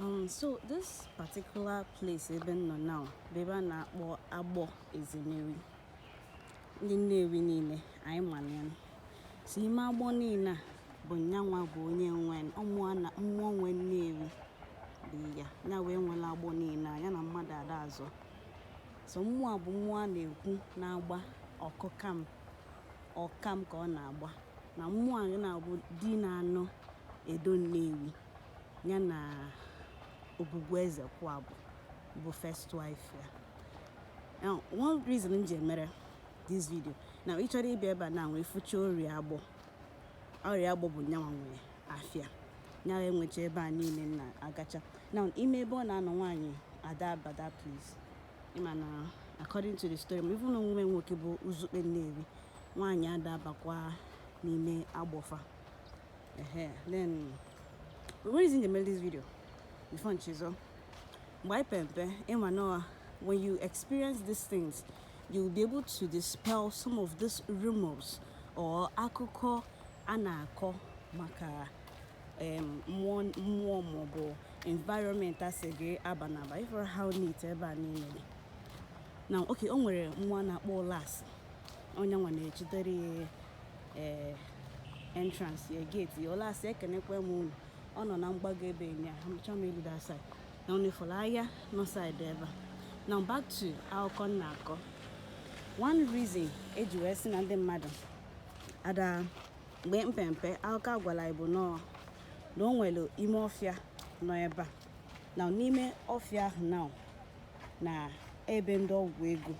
Um, so this particular place ebe m nọ now bụ ebe a na-akpọ agbọ ezemewi ndị nnewi niile anyị malụ ya so ime agbọ niile a bụ nyanwa bụ onye nwe mmụọ nwe nnewi di ya ya wee nwere agbọ niile ya na mmadụ ada azọ So mmụọ a bụ mmụọ a na-ekwu na-agba ọkam ka ọ na-agba na mmụọ a nya bụ di na-anụ edo nnewi ya na ogwugwu ezekwuabọ bụ first wife ya now one reason m ji emere this video na ị chọrọ ịbịa ebe a na nwee fụcha orie agbọ orie agbọ bụ nyanwa nwere afịa ya nwecha ebe a niile m na-agacha na ime ebe ọ na-anọ nwaanyị ada aba that place ịma na according to the story ma even nwa ya nwoke bụ uzukpe nnewi nwaanyị ada abakwa n'ime agbọ fa ehe then one reason m ji eme this video before m chezọọ mgbe anyị pe mpe ịma na when you experience these things you will be able to dispel some of these rumors or akụkọ a na-akọ maka mmụọ maọbụ environment a sị gị abana aba ị fụrụ how neat ebe a niile dị now okay o nwere nwa a na-akpọ olas ọ nyanwa na-echitere ya eh, entrance ya gate ya olas ekenekwa m unu ọ nọ na mgbago ebe nya amụcha m elu that side na unu fụrụ ahịa nọ side ebe a now back to akụkọ m na-akọ one reason eji wee sị na ndị mmadụ ada mgbe m pe mpe akụkọ a gwara anyị bụ na o nwere ime ọfịa nọ ebe a na n'ime ọfịa ahụ na na ebe ndị ọgwụ ego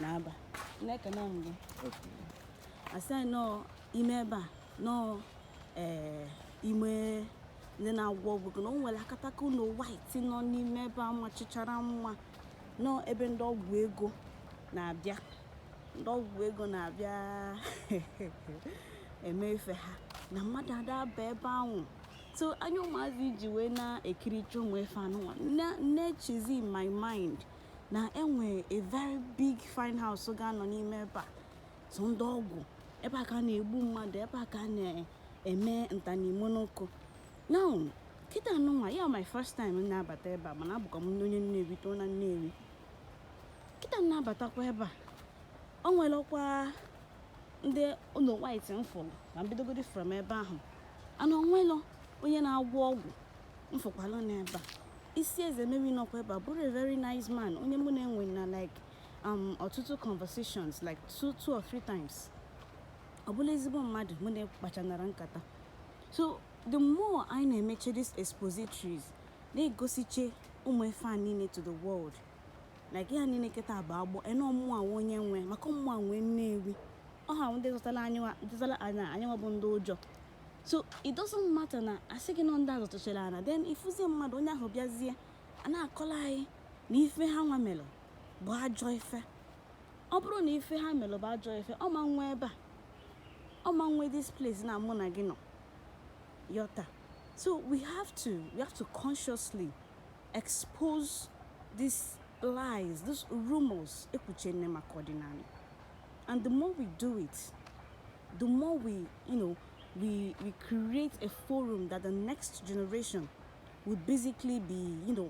na-aba na-ekene m gị asị anyị nọọ ime ebe a nọọ ee ime ndị na-agwọ ọgwụ ego na o nwere akataka ụlọ white nọ n'ime ebe a machichara mma na ọ ebe ndị ọgwụ ego na-abịa ndị ọgwụ ego na-abịa eme ife ha na mmadụ ada aba ebe ahụ so anya ụmụazị ji wee na-ekiricha ụmụ ife anụnwa na-echizi in my mind na e nwe a very big fine house ga-anọ n'ime ebe a so ndị ọgwụ ebe a ka a na-egbu mmadụ ebe a ka a na-eme nta na imo n'ụkụ now kịta nụnwa ya my first time na-abata ebe a mana abụkwa m onye Nnewi too na Nnewi kịta m na-abatakwa ebe a o nwerọkwanụ ụlọ white m fụrụ na m bidogodi from ebe ahụ ana o nwelọ onye na-agwọ ọgwụ m fụkwalụ n'ebe a isi ezemewi nọkwa ebe a bụrụ a very nice man onye mụ na-enwe na like um, ọtụtụ conversations like two, two or three times ọ bụla ezigbo mmadụ mụ na ya kpachara nkata so the more anyị na-emeche these expositories na-egosiche ụmụ ife a niile to the world like ihe a niile kịta bụ Agbọ Edo ọ mmụọ nwe onye nwe maka ọ mmụọ nwe Nnewi ọ ha ndị zụtara ana anyịnwa bụ ndị ụjọ so it doesn't matter na a sị gị na ọ ndị a zụtachara ana then i fuzie mmadụ onye ahụ bịazie na-akọlụ anyị na ife ha nwa mere bụ ajọ ife ọ bụrụ na ife ha mere bụ ajọ ife ọ ma nwe ebe a ọ ma nwe this place na mụ na gị nọ kịta so we have to we have to consciously expose these lies these rumors e kwuchere maka ọdịnala and the more we do it the more we you know we we create a forum that the next generation would basically be you know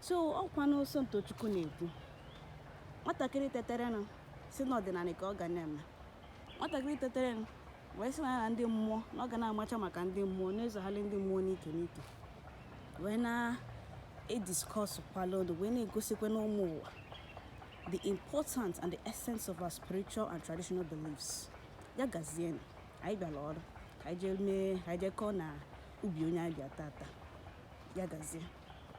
so ọkwa Nonso Ntochukwu na-ekwu nwatakịrị teterenụ sị na ọdịnala ka ọ ga na-eme nwatakịrị teterenụ wee sị na ya na ndị mmụọ na ọ ga na-amacha maka ndị mmụọ na-esogharị ndị mmụọ n'ike n'ike wee na-ediskọsụ kwala ọnụ wee na-egosikwanụ ụmụ ụwa the importance and the essence of our spiritual and traditional beliefs ya gazienụ anyị bịara ọrụ ka anyị jee mee ka anyị jee kọọ n'ubi onye anyị bịa tata ya gazie